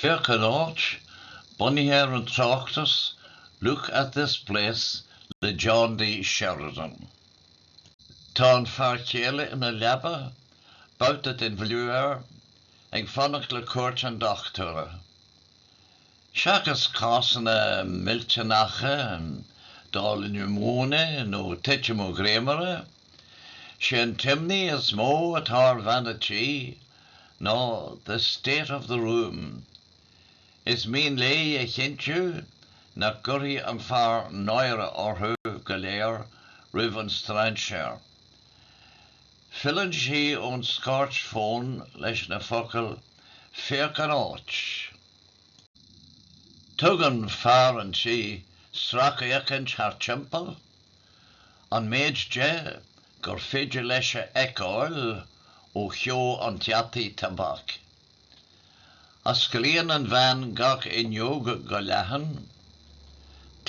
Féach an áit, bunaithe ar an tráchtas Look at this place le John D. Sheridan. Tá an fear céile ina leaba, babhta den bhfliú air, ag fanacht le cuairt an dochtúra. Seachas cásanna millteanacha, dála niúmóine nó titim ó dhréimire, Sé an t-imní is mó atá ar bhean an tí ná the state of the room. Is mian léi a chinntiú nach gcuirfidh an fear náire orthu go léir roimh an strainséir. Filleann sí ón scairt fón leis na focail Féach an áit! Tugann fear an tí sracfhéachaint thart timpeall An méid de gur féidir leis a fheiceáil ó cheo an deataigh tobac. Osclaíonn an bhean gach fhuinneog go leathan.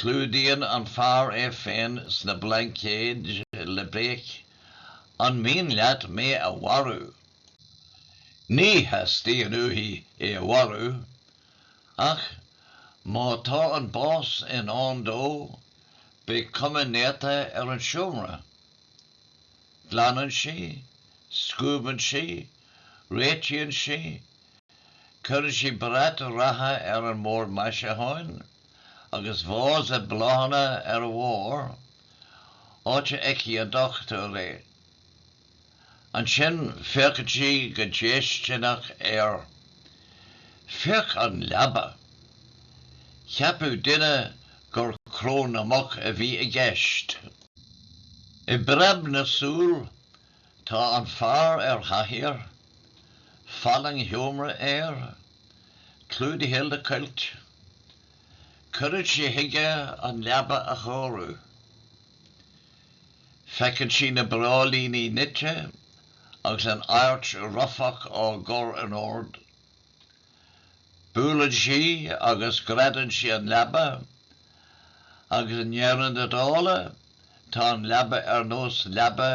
Clúdaíonn an fear é féin sna blaincéid le béic, 'An mian leat mé a mharú? Ní theastaíonn uaithi é a mharú, Ach má tá an bás i ndán dó, beidh cuma néata ar an seomra. Glanann sí, scuabann sí, réitíonn sí, cuireann sí brat reatha ar an mbord maisiúcháin agus vása bláthanna ar a bharr, áit a fheicfidh an dochtúir é. Ansin féachann sí go déistineach air. Féach an leaba! Cheapfadh duine gur cró na muc a bhí i gceist. I bpreab na súl tá an fear ar chathaoir, fallaing sheomra air, clúdaithe le cuilt. Cuireann sé chuige an leaba a chóiriú. Feiceann sí na bráillíní nite agus an adhairt rufach á gcur in ord. Buaileann sí agus greadann sí an leaba, agus i ndeireadh na dála, tá an leaba ar nós leaba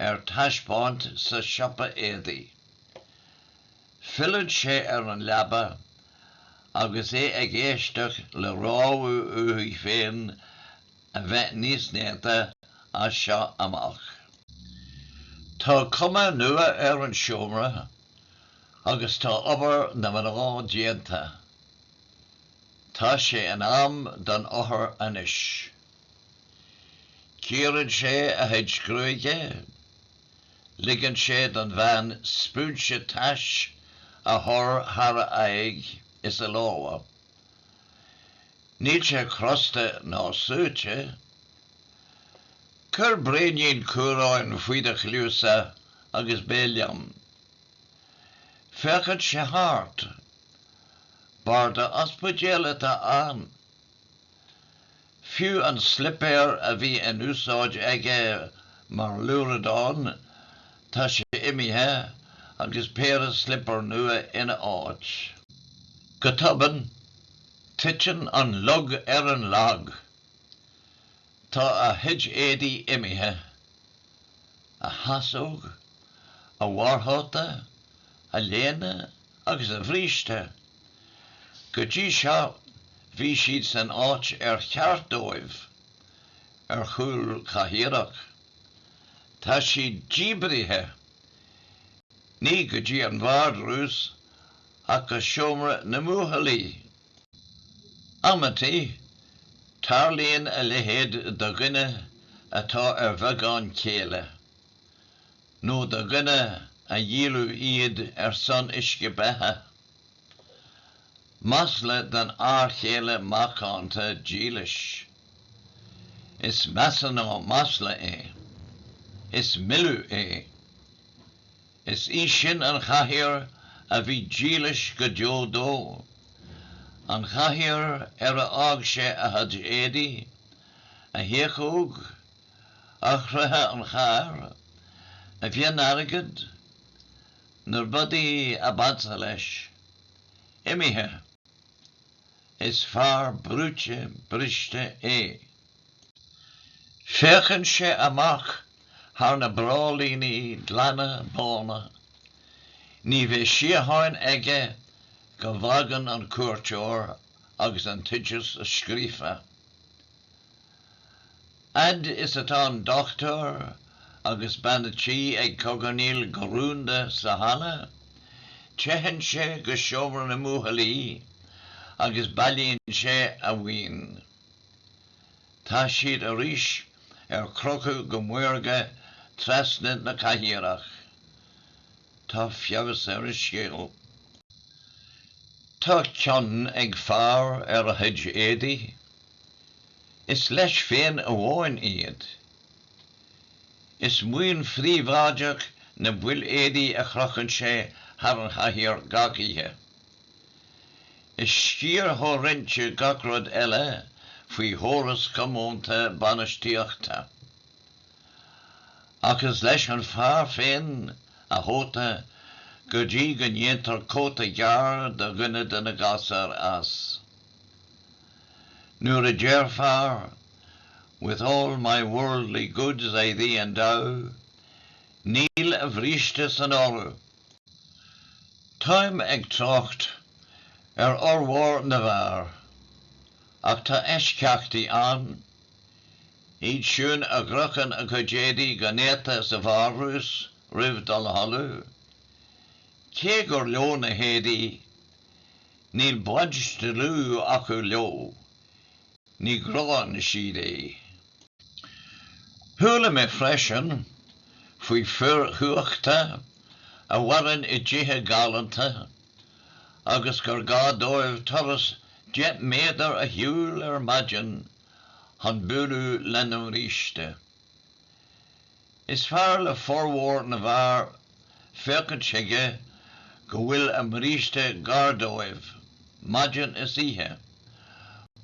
ar taispeáint sa siopa éadaí. Filleann sé ar an leaba agus é ag éisteacht le rabhadh uaithi féin a bheith níos néata as seo amach. Tá cuma nua ar an seomra agus tá obair na mná déanta. Tá sé in am don othar anois. Cíorann sé a chuid gruaige, ligeann sé don bhean spúinse tais a chur thar a aghaidh is a lámha. Níl sé crosta ná suaite. Cuir braoinín cumhráin faoi do chluasa agus beidh liom. Féachann sé thart. Barda ospidéil atá ann. Fiú an slipéar a bhí in úsáid aige mar luaithreadán, tá sé imithe agus péire slipéar nua ina áit. Go tobann, titeann an lug ar an lag. Tá a chuid éadaí imithe. A chasóg? A bharrchóta? A léine? agus a bhríste. Go dtí seo bhí siad san áit ar cheart dóibh, ar chúl cathaoireach. Tá siad díbrithe, ní go dtí an vardrús, ach go seomra na mbuachaillí. Amantaí, tarlaíonn a leithéid do dhuine atá ar bheagán céille. nó do dhuine a dhíoladh iad ar son uisce beatha. Masla don fhear chéile macánta dílis. Is measa ná masla é. Is milleadh é. Is í sin an chathaoir a bhí dílis go deo dó, an chathaoir ar a fhág sé a chuid éadaí, a thiachóg, eochracha an chairr, a mhionairgead, na rudaí ab ansa leis, imithe. Is fear brúite briste é. Féachann sé amach thar na bráillíní glana bána. Ní bheidh síocháin aige go bhfágann an cuairteoir agus an t-oideas scríofa. Fhad is atá an Dochtúir agus Bean a' Tí ag cogarnaíl go rúnda sa halla, teitheann sé go seomra na mbuachaillí agus bailíonn sé a mhaoin. Tá siad arís ar crochadh go maorga trasna na cathaoireach. Tá feabhas ar a scil. Tá cion ag fear ar a chuid éadaí. Is leis féin amháin iad. Is maoin phríobháideach na baill éadaí a chrochann sé thar an chathaoir gach oíche. Is sciar comhroinnte gach rud eile faoi chóras comónta bainistíochta. Ach is leis an fear féin a chóta go dtí go ndéantar cóta gearr do dhuine de na gasúir as. Nuair a deir fear, 'With all my worldly goods I thee endow, níl a bhríste san áireamh. Táim ag trácht ar fhormhór na bhfear, ach tá eisceachtaí ann, Iad siúd a chrochann a gcuid éadaí go néata sa vardrús roimh dul a chodladh, cé gur leo na héadaí, níl baint dlúth acu leo, ní ghránn siad iad. Chuala mé freisin faoi fir chumhachta a mhaireann i dtithe galánta agus gur gá dóibh turas deich méadar a shiúl ar maidin chun bualadh lena mbríste. Is fearr le formhór na bhfear féachaint chuige go bhfuil a mbríste gar dóibh, maidin is oíche,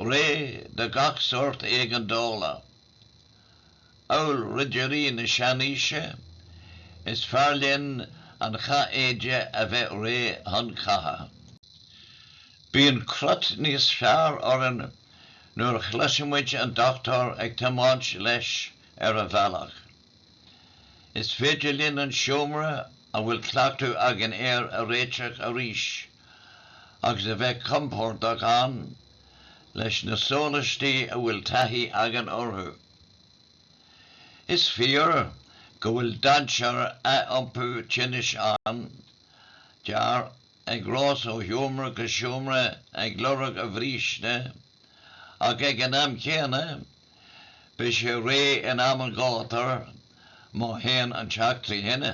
réidh do gach sórt éigeandála. amhail ridirí na seanaoise, is fearr linn an chathéide a bheith réidh chun catha. Bíonn crot níos fearr orainn nuair a chloisimid an dochtúir ag tiomáint leis ar a bhealach. Is féidir linn an seomra a bhfuil cleachtadh againn air a réiteach arís agus a bheith compordach ann leis na sólaistí a bhfuil taithí againn orthu. Is fíor go bhfuil dainséar athiompú tinnis ann, d'fhear ag rás ó sheomra go seomra ag lorg a bhríste, ach ag an am céanna, beidh sé réidh in am an ghátair má théann an teach trí thine.